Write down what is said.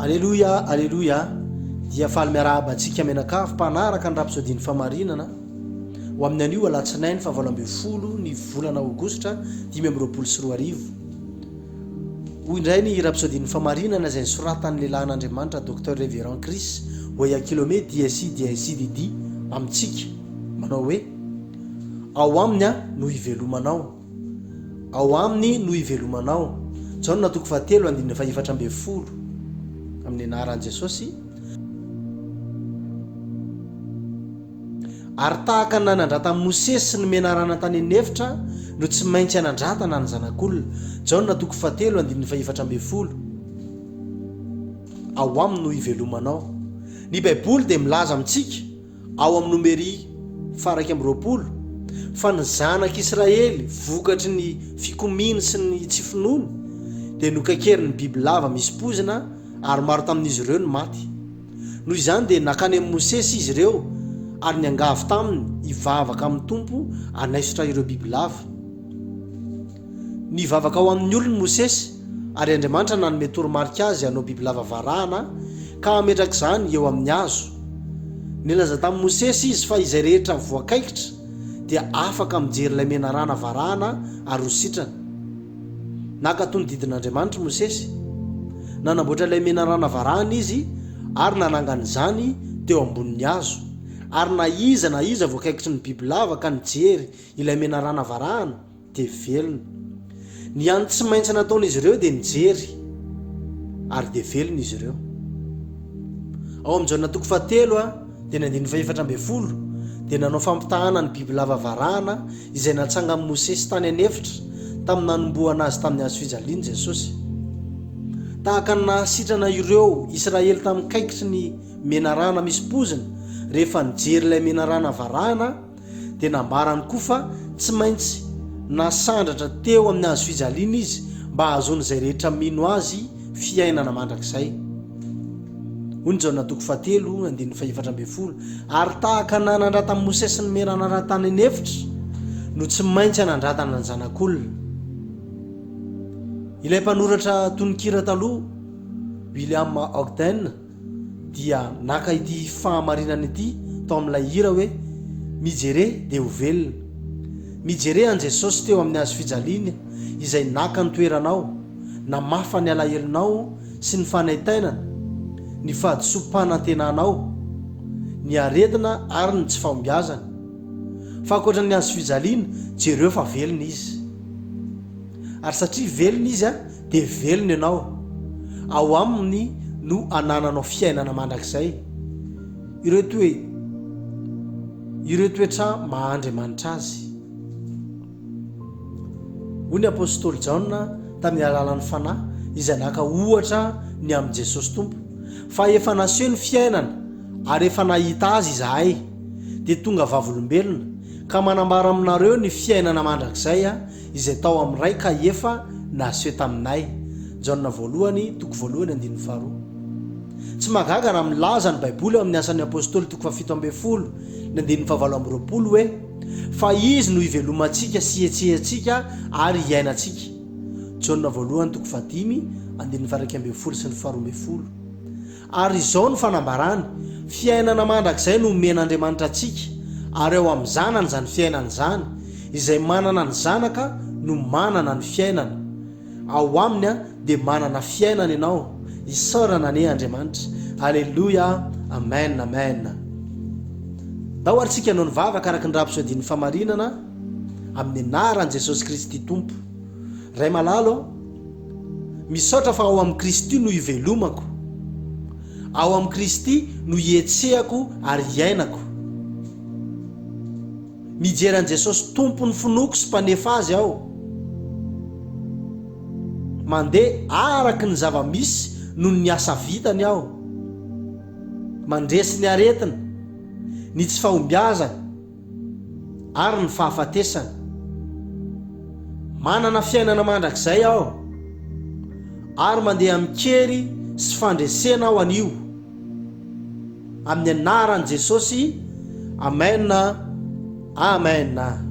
Aleloia Aleloia Dia faly miarahaba antsika mianakavy mpanaraka ny rapsodian'ny famarinana ho amin'ny anio alatsinainy faha valo ambin'ny folo ny volana aogositra dimy amby roapolo sy roa arivo Hoy indray ny rapsodian'ny famarinana izay nisoratan'ny lehilahin'Andriamanitra Docteur Reverend Chris Oyakhilome DSI DSI DD amintsika manao hoe Ao aminy aho no hivelomanao Ao Aminy no hivelomanao. Jaona toko fahatelo andininy fahefatra ambin'ny folo Amin'ny anaran'i Jesosy. Ary tahaka ny nanandrata an'i Mosesy sy ny menarana tany an'efitra no tsy maintsy hanandratana ny Zanak'olona. Jaona toko fahatelo andininy fahefatra ambin'ny folo Ao Aminy no hivelomanao. Ny Baiboly dia milaza amintsika. ao amin'ny Nomery faha iraika amby roapolo, fa ny zanak'i Israely vokatry ny fikomiany sy ny tsy finoany dia nokakerin'ny bibilava misy poizina ary maro tamin'izy ireo no maty. Noho izany dia nankany amin'i Mosesy izy ireo ary niangavy taminy hivavaka amin'ny Tompo hanaisotra ireo bibilava. Nivavaka ho amin'ny olony Mosesy, ary Andriamanitra nanome toromarika azy hanao bibilava varahana ka hametraka izany eo amin'ny hazo. Nilaza tamin'i Mosesy izy fa izay rehetra voakaikitra dia afaka mijery ilay menarana varahana ary ho sitrana. Naka tonodidin'Andriamanitra i Mosesy. Nanamboatra ilay menarana varahana izy ary nanangana izany teo ambonin'ny hazo, ary na iza na iza voakaikitry ny bibilava ka nijery ilay menarana varahana, dia velona. Ny hany tsy maintsy nataon'izy ireo dia nijery, ary dia velona izy ireo. Ao amin'i Jaona toko fahatelo a, dia ny andininy fahefatra ambin'ny folo, dia nanao fampitahana ny bibilava varahana izay natsangan'i Mosesy tany an'efitra tamin'ny nanombohana azy tamin'ny hazo fijaliana i Jesosy. Tahaka ny nahasitrana ireo Israely tamin'ny kaikitry ny menarana misy pozina rehefa nijery ilay menarana varahana, dia nambarany koa fa tsy maintsy nasandratra teo amin'ny hazo fijaliana izy mba hahazoan'izay rehetra mino azy fiainana mandrakizay. Hoy ny Jaona toko fahatelo, andininy fahefatra ambin'ny folo, Ary tahaka ny nanandratan'i Mosesy ny mena nanatany ny efitra, no tsy maintsy hanandratana ny Zanak'olona. Ilay mpanoratra tononkira taloha, William Ogden, dia naka ity fahamarinana ity tao amin'ilay hira hoe Mijere dia ho velona. Mijere an'i Jesosy teo amin'ny hazo fijaliana izay naka ny toeranao, namafa ny alahelonao sy ny fanaintainana, ny fahadisoam-panantenanao, ny aretina ary ny tsy fahombiazana. Fa ankoatra ny hazo fijaliana, jereo fa velona Izy. Ary satria velona Izy, dia velona ianao, ao Aminy no anananao fiainana mandrakizay. Ireo toe, ireo toetra maha Andriamanitra Azy. Hoy ny apostoly Jaona tamin'ny alalan'ny Fanahy izay naka ohatra ny amin'i Jesosy Tompo, Fa efa naseho ny fiainana, ary efa nahita azy izahay, dia tonga vavolombelona, ka manambara aminareo ny fiainana mandrakizay, izay tao amin'ny iray ka efa naseho taminay, Jaona Voalohany, toko voalohany andininy faharoa. Tsy mahagaga raha milaza ny Baiboly ao amin'ny Asan'ny Apostoly, toko fahafito ambin'ny folo, ny andininy fahavalo amby roapolo hoe, Fa Izy no ivelomantsika sy ihetsehantsika ary iainantsika, Jaona Voalohany, toko fahadimy, andininy faha iraika ambin'ny folo sy ny faharoa ambin'ny folo. Ary izao no fanambarany, Fiainana mandrakizay no omen'Andriamanitra antsika, ary ao amin'ny Zanany izany fiainana izany, izay manana ny Zanaka no manana ny fiainana. Ao Aminy dia manana fiainana ianao. Isaorana anie Andriamanitra. Aleloia. Amen. Amen. Ndao ary tsika hanao ny vavaka araka ny rapsodin'ny famarinana, amin'ny anaran'i Jesosy Kristy Tompo. Ray malalo. Misaotra fa ao amin'i Kristy no ivelomako, ao amin'i Kristy no ihetsehako ary iainako. Mijery an'i Jesosy Tompon'ny finoako sy Mpanefa azy aho. Mandeha araka ny zava-misy noho ny asa vitany aho. Mandresy ny aretina, ny tsy fahombiazana. ary ny fahafatesana. Manana fiainana mandrakizay aho, ary mandeha amin-kery sy fandresena aho anio. Amin'ny anaran'i Jesosy, amena, amena.